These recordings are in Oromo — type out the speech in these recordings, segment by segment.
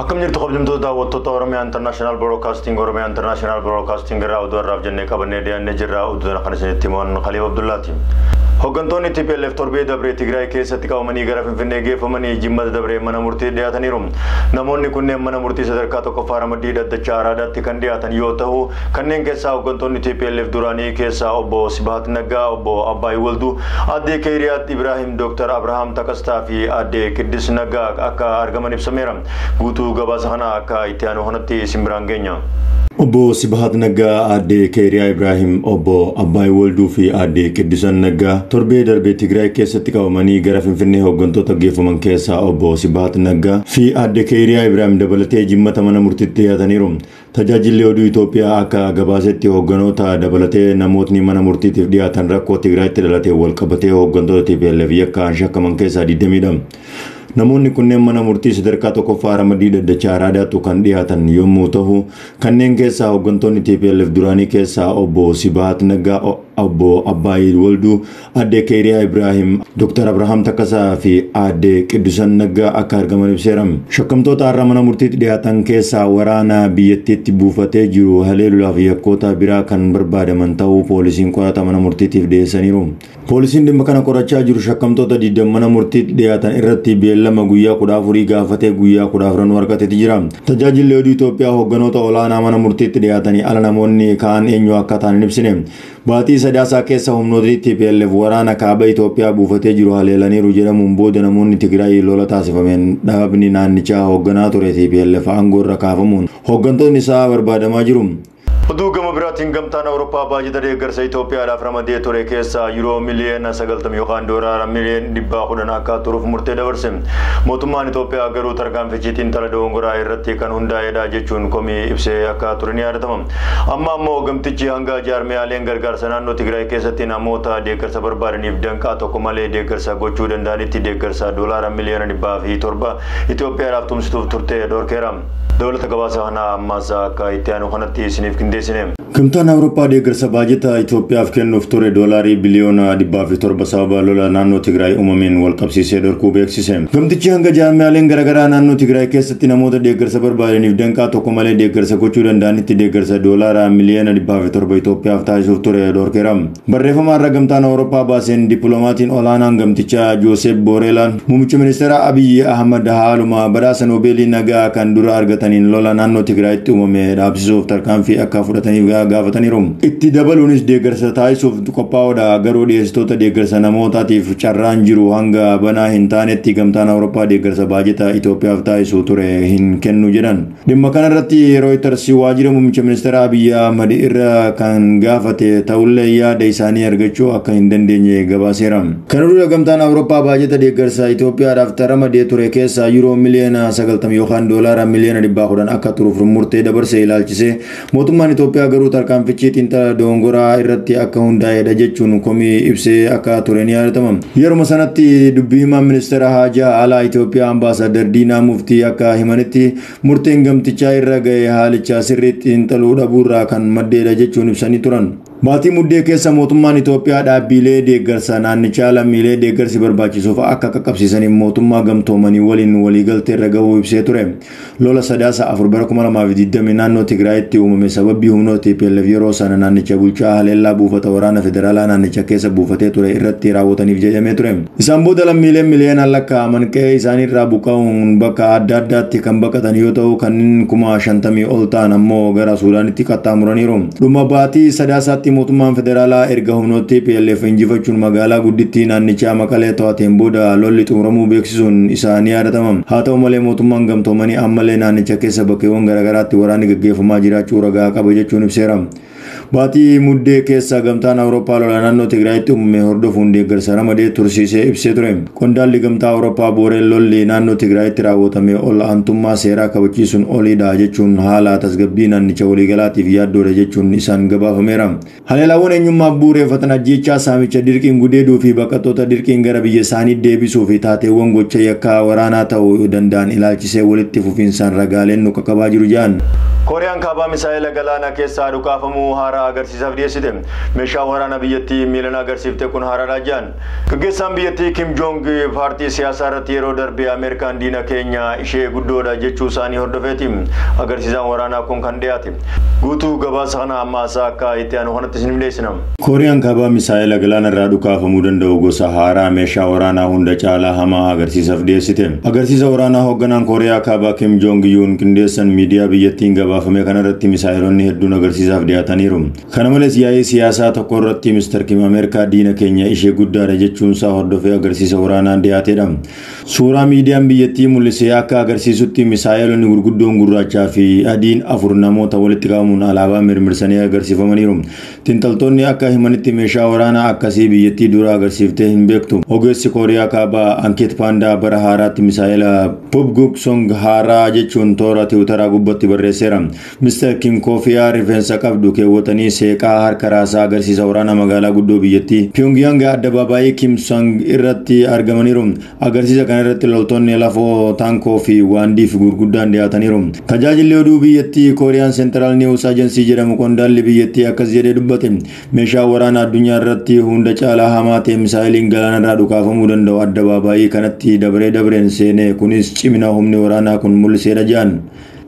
Akkam jirtu kabajamtoota daawwattoota Oromiyaa Intarnaashinaal Broodkaastiing Oromiyaa Intarnaashinaal Broodkaastiing irraa oduu har'aaf jennee qabannee dhiyaannee jirra oduu kana kan isinitti himan Khaliif Abdullaati. Hooggantoonni TPLF torbee dabree Tigraay keessatti qabamanii gara Finfinnee geeffamanii jimmata dabree mana murtii dhiyaataniiru. Namoonni kunneen mana murtii sadarkaa tokkoffaa ramaddii dhaddachaa araadaatti kan dhiyaatan yoo ta'u Kanneen keessaa hooggantoonni tplf duraanii keessaa obbo Sibahat Naggaa, obbo Abbaay Walduu, aadde Keeyriyaat Ibraahim, Dooktar Abrahaam Takastaa fi aadde Qiddis Naggaa akka argaman ibsameera. Guutuu gabaasa kanaa akka itti aanu kanatti isin biraan geenya. Obbo Sibahat Naggaa, aadde Keeyriyaa Ibraahim, obbo Abbaay Walduu fi aadde Qiddisan Naggaa torbee darbe Tigraay keessatti qabamanii gara Finfinnee hooggantoota geeffaman keessaa obbo Sibahat Naggaa fi aadde Keeyriyaa Ibraahim dabalatee jimmata mana murtiitti dhiyaataniiru. Tajaajilli Oduu Itoophiyaa akka gabaasetti hoogganoota dabalatee namootni mana murtiitiif dhiyaatan rakkoo Tigraayitti dhalateen walqabatee hooggantoota tplf yakkaan shakkaman keessaa 22. Namoonni kunneen mana murtii sadarkaa tokkoffaa ramaddii dhaddacha Araadaattu kan dhiyaatan yommuu tahu, kanneen keessaa hooggantoonni tplf duraanii keessaa obbo Sibahat Naggaa, obbo Abbaayiid Walduu, Aadde Keeriyaa Ibraahim, Dooktar Abrahaam Takkasaa fi Aadde Qiddusan Naggaa akka argaman ibseera. Shakkamtoota har'a mana murtiitti dhiyaatan keessaa waraana biyyattiitti buufatee jiru haleeluudhaaf yakkoota biraa kan barbaadaman ta'uu poolisiin qorata mana murtiitiif dhiyeessaniiru. Poolisiin dhimma kana qorachaa jiru shakkamtoota 20 mana murtiitti dhiyaatan irratti beellama guyyaa 14 gaafatee guyyaa 14 nu argateeti jira. Tajaajilli oduu Itoophiyaa hoogganoota olaanaa mana murtiitti dhiyaatanii ala namoonni kaan eenyu akka ta'an hin ibsine. Baatii Sadaasaa keessa humnootni tplf waraana kaaba Itoophiyaa buufatee jiru haleelaniiru jedhamuun booda namoonni Tigraay lola taasifameen dhaabni naannichaa hoogganaa ture tplf aangoorra kaafamuun hooggantoonni isaa barbaadamaa jiru. Oduu gama biraatiin gamtaan Awurooppaa baajata deeggarsa Itoophiyaadhaaf ramadee ture keessaa Yuroo miliyoona 90 yookaan doolaara miliyoon 110 akka turuuf murtee dabarse. Mootummaan Itoophiyaa garuu tarkaanfichi xiinxala dogongoraa irratti kan hundaa'edha jechuun komii ibsee akka ture ni yaadatama. Amma ammoo gamtichi hanga jaarmiyaaleen gargaarsa naannoo Tigraay keessatti namoota deeggarsa barbaadaniif danqaa tokko malee deeggarsa gochuu danda'anitti deeggarsa doolaara miliyoona dhibbaa fi torba Itoophiyaadhaaf tumsituuf turte dhorkeera. Dabalata gabaasa kanaa ammas akka itti aanu kanatti isiniif qindeessine. Gamtaan Awurooppaa deeggarsa baajata Itoophiyaaf kennuuf ture doolaarii biliyoona dhibbaa fi torba sababa lola naannoo Tigraay uumameen walqabsiisee dhorkuu beeksise. Gamtichi hanga jaarmiyaaleen garaagaraa naannoo Tigraay keessa tti namoota deeggarsa barbaadaniif danqaa tokko malee deeggarsa gochuu danda'anitti deeggarsa Doolaara miliyoona 207 Itoophiyaaf taasisuuf ture dhorkeera. Barreeffama har'a Gamtaan Awurooppaa baaseen Dippiloomaatiin Olaanaan Gamtichaa Jooseep Booreelaan Muummicha Ministeeraa Abiy Ahmad haaluma badhaasa Noobeelii Nagaa kan dura argataniin lola naannoo Tigraayitti uumame dhaabsisuuf tarkaanfii akka fudhataniif gaafataniiru. Itti dabaluunis deeggarsa taasisuuf qophaa'oodha, garuu dhiyeessitoota deeggarsa namootaatiif carraan jiru hanga banaa hin taanetti Gamtaan Awurooppaa deeggarsa baajeta Itoophiyaaf taasisu ture hin kennu jedhan. Dhimma kanarratti Rooyitars waajjira muummicha ministeeraa Abiy Ahmad irra kan gaafate ta'ullee yaada isaanii argachuu akka hin dandeenye gabaaseera. Kana dura Gamtaan Awurooppaa baajeta deeggarsa Itoophiyaadhaaf ramadee ture keessaa Yuuroo miliyoona 90 yookaan Doolaara miliyoona 110 akka turuuf murtee dabarse ilaalchisee Mootummaan Itoophiyaa garuu tarkaanfichi xiinxala dogongoraa irratti akka hundaa'edha jechuun komii ibsee akka ture ni yaadatama. Yeruma sanatti dubbii himaan ministeera haajaa alaa Itoophiyaa ambaasaaddar Diinaa Muftii akka himanitti murteen gamtichaa irra ga'e haalicha sirriitti xiinxaluu dhabuurraa kan maddeedha jechuun ibsanii turan. Baatii Muddee keessa mootummaan Itoophiyaa dhaabbiilee deeggarsa naannichaa lammiilee deeggarsi barbaachisuuf akka qaqqabsiisaniif mootummaa gamtoomanii waliin waliigalteerra gahuu ibsee ture. Lola Sadaasa 4 bara 2020 naannoo Tigraayitti uumame sababbii humnoota TPLF yeroo sana naannicha bulchaa haleellaa buufata waraana federaalaa naannicha keessa buufatee ture irratti raawwataniif jedhamee ture. Isaan booda lammiileen miliyoonaan lakkaa'aman qe'ee isaaniirraa buqqa'uun bakka adda addaatti kan baqatan yoo ta'u, kanneen kuma 50 ol ta'an ammoo gara Suudaanitti qaxxaamuraniiru. Dhuma baatii Sadaasaatti mootummaan federaalaa erga humnoota tplf injifachuun magaalaa guddittii naannichaa Maqalee to'ateen booda lolli xumuramuu beeksisuun isaa ni yaadatama. Haa ta'u malee mootummaan gamtoomanii ammallee naannicha keessa bakkeewwan garaagaraatti waraanni gaggeeffamaa jiraachuu ragaa qaba jechuun ibseera. Baatii Muddee keessa Gamtaan Awurooppaa lola naannoo Tigraayitti uumame hordofuun deeggarsa ramadee tursiisee ibsee ture. Qondaalli Gamtaa Awurooppaa booreen lolli naannoo Tigraayitti raawwatame ol aantummaa seeraa kabachiisuun oliidha jechuun haala tasgabbii naannicha waliigalaatiif yaaddoodha jechuun isaan gabaafameera. Haleelaawwan eenyummaaf bu'ureeffatan ajjeechaa, saamicha, dirqiin gudeeduu fi baqattoota dirqiin gara biyya isaanii deebisuu fi taateewwan gocha yakkaa waraanaa ta'u danda'an ilaalchisee walitti fufiinsaan ragaaleen nu qaqqabaa jiru jedhan. Kooriyaan Kaabaa misaa'ela galaana keessaa dhukaafamu haaraa agarsiisaaf dhiyeessite. Meeshaan waraanaa biyyattii miilan agarsiifte kun haaraadha jedhan. Gaggeessaan biyyattii Kim Joong paartii siyaasaa irratti yeroo darbe Ameerikaan diina keenya ishee guddoodha jechuu isaanii hordofeeti agarsiisaan waraanaa kun kan dhiyaate. Guutuu gabaasa kana amma asaa akka itti aanu kanatti isiniif dhiyeessina. Kooriyaan Kaabaa misaa'ela galaana irraa dhukaafamuu danda'u gosa haaraa meeshaa waraanaa hunda caalaa hamaa agarsiisaf dhiyeessite. Agarsiisa waraanaa hoogganaan Kooriyaa Kaabaa Kim Joong Yuun qindeessan miidiyaa biyyattiin gabaafame kana irratti misaa'elonni hedduun agarsiisaaf dhiyaataniiru. Kana malees yaa'ii siyaasaa tokko irratti Mr Kim Ameerikaa diina keenya ishee guddaadha jechuunsaa hordofee agarsiisa waraanaan dhiyaateedha. Suuraa miidiyaan biyyattii mul'ise akka agarsiisutti misaa'eelonni gurguddoon gurraachaa fi adiin afur namoota walitti qabamuun alaabaa mirmirsanii agarsiifamaniiru. Xinxaltoonni akka himanitti meeshaa waraanaa akkasii biyyattii dura agarsiiftee hin beektu. Ogeessi Kooriyaa Kaabaa Ankeet Paandaa bara haaraatti misaa'ela Pubguk Song haaraa jechuun toora tiwutaraa gubbatti barreesseera. Mr Kim Koofiyaa rifeensa qabdu keewwatanii seeqaa harka raasaa agarsiisa waraana magaalaa guddoo biyyattii Pyongyang addabaabaayii Kim Sang irratti argamaniiru. Agarsiisa kana irratti loltoonni lafoo, taankoo fi waandiif gurguddaan dhiyaataniiru. Tajaajilli oduu biyyattii Korean Central News Agency jedhamu qondaalli biyyattii akkas jedhee dubbate, Meeshaan waraana addunyaa irratti hunda caalaa hamaa ta'e misaa'eliin galaanarraa dhukaafamuu danda'u addabaabaayii kanatti dabree dabreen seene, kunis cimina humni waraanaa kun mul'iseedha jedhan.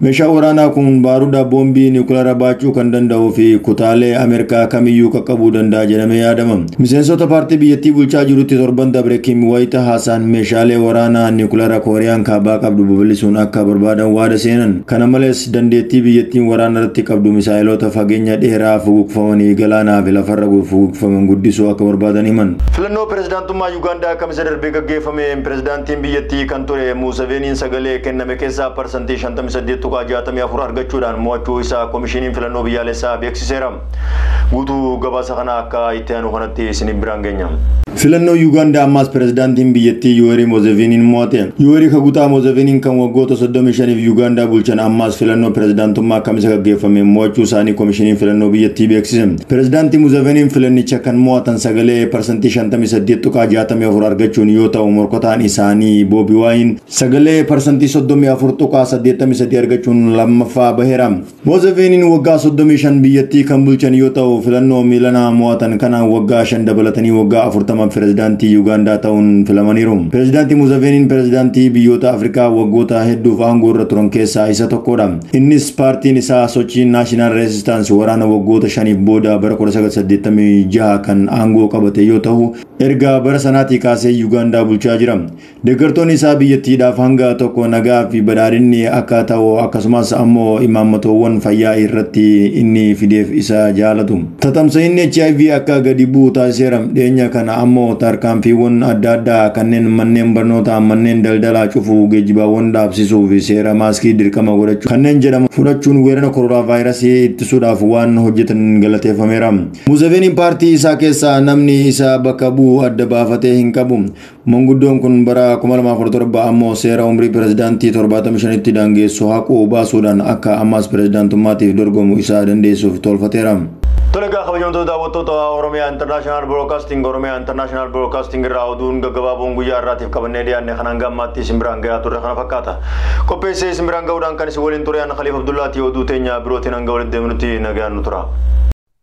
Meeshaan waraanaa kun baaruda boombii niwukilaraa baachuu kan danda'uu fi kutaalee Ameerikaa kamiyyuu qaqqabuu danda'a jedhamee yaadama. Miseensota paartii biyyattii bulchaa jirutti torban dabre Kim wayita haasaan meeshaalee waraanaa niwukilaraa Kooriyaan kaabaa qabdu babal'isuun akka barbaadan waada seenan. Kana malees dandeettii biyyattiin waraana irratti qabdu misaa'eloota fageenya dheeraa fuguqfamanii galaanaa fi lafarra fuguqfaman guddisuu akka barbaadan himan. Filannoo pirezidaantummaa Yugaandaa Kamisa darbe gaggeeffameen pirezidaantiin biyyattii kan ture Muuseveeniin sagalee kenname Itoophiyaa keessaa parsantii 58.64 argachuudhaan mo'achuu isaa Komishiniin Filannoo Biyyaalessaa beeksiseera. Guutuu gabaasa kanaa akka itti aanu kanatti isiniin biraan geenya. Filannoo Yuugaandaa ammaas pirezidaantiin biyyattii Yuweerii Mozeviiniin mo'ate. Yuweerii Kagutaa Mozeviiniin kan waggoota 35f Yuugaandaa bulchan ammaas filannoo pirezidaantummaa Kamisa gaggeeffameen mo'achuu isaanii Komishiniin Filannoo biyyattii beeksise. Pirezidaantii Muzeviiniin filannicha kan mo'atan sagalee parsantii 58.64 argachuun yoo ta'u morkataan isaanii Boobi Waayin Sagalee parsantii 34.83 argachuun lammaffaa baheera. Moozeveeniin waggaa 35 biyyattii kan bulchan yoo ta'u filannoo miilanaa mo'atan kanaan waggaa 5 dabalatanii waggaa 40 pirezidaantii Yuugaandaa ta'uun filamaniiru. Pirezidaantii Moozeveeniin pirezidaantii biyyoota Afrikaa waggoota hedduuf aangoo irra turan keessaa isa tokkodha. Innis paartiin isaa sochii Naashinaal Reesistaansi waraana waggoota shaniif booda bara 1986 kan aangoo qabate yoo ta'u erga bara sanaatii kaasee Yuugaandaa bulchaa jira. Deeggartoonni isaa biyyattiidhaaf hanga tokko nagaa fi badhaadhinni akka ta'u akkasumas ammoo imaammatoowwan fayyaa irratti inni fideef isa jaalatu. Tatamsa'inni HIV akka gadi bu'u taasiseera. Dhiyeenya kana ammoo tarkaanfiiwwan adda addaa kanneen manneen barnootaa, manneen daldalaa cufuu, geejjibaawwan dhaabsisuu fi seera maaskii dirqama godhachuu kanneen jedhaman fudhachuun weerara koronaavaayirasii ittisuudhaaf waan hojjetan galateeffameera. Museveeniin paartii isaa keessaa namni isa bakka bu'u adda baafatee hin qabu. Manguddoon kun bara 2017 ammoo seera umrii pirezidaantii 75tti daangeessu haqu baasuudhaan akka ammaas pirezidaantummaatiif dorgomu isa dandeessuuf toolfateera. Tole egaa kabajamtoota daawwattoota Oromiyaa International Broadcasting Oromiyaa International Broadcasting irraa oduun gaggabaaboon guyyaa irraatiif qabannee dhiyaanne kan hanga ammaatti isin biraan gayaa turre kana fakkaata. Qopheessee isin biraan ga'uudhaan kan isin waliin ture an Khaliif Abdullaatii oduu teenya birootiin hanga walitti deemnutti nagaan nu tura.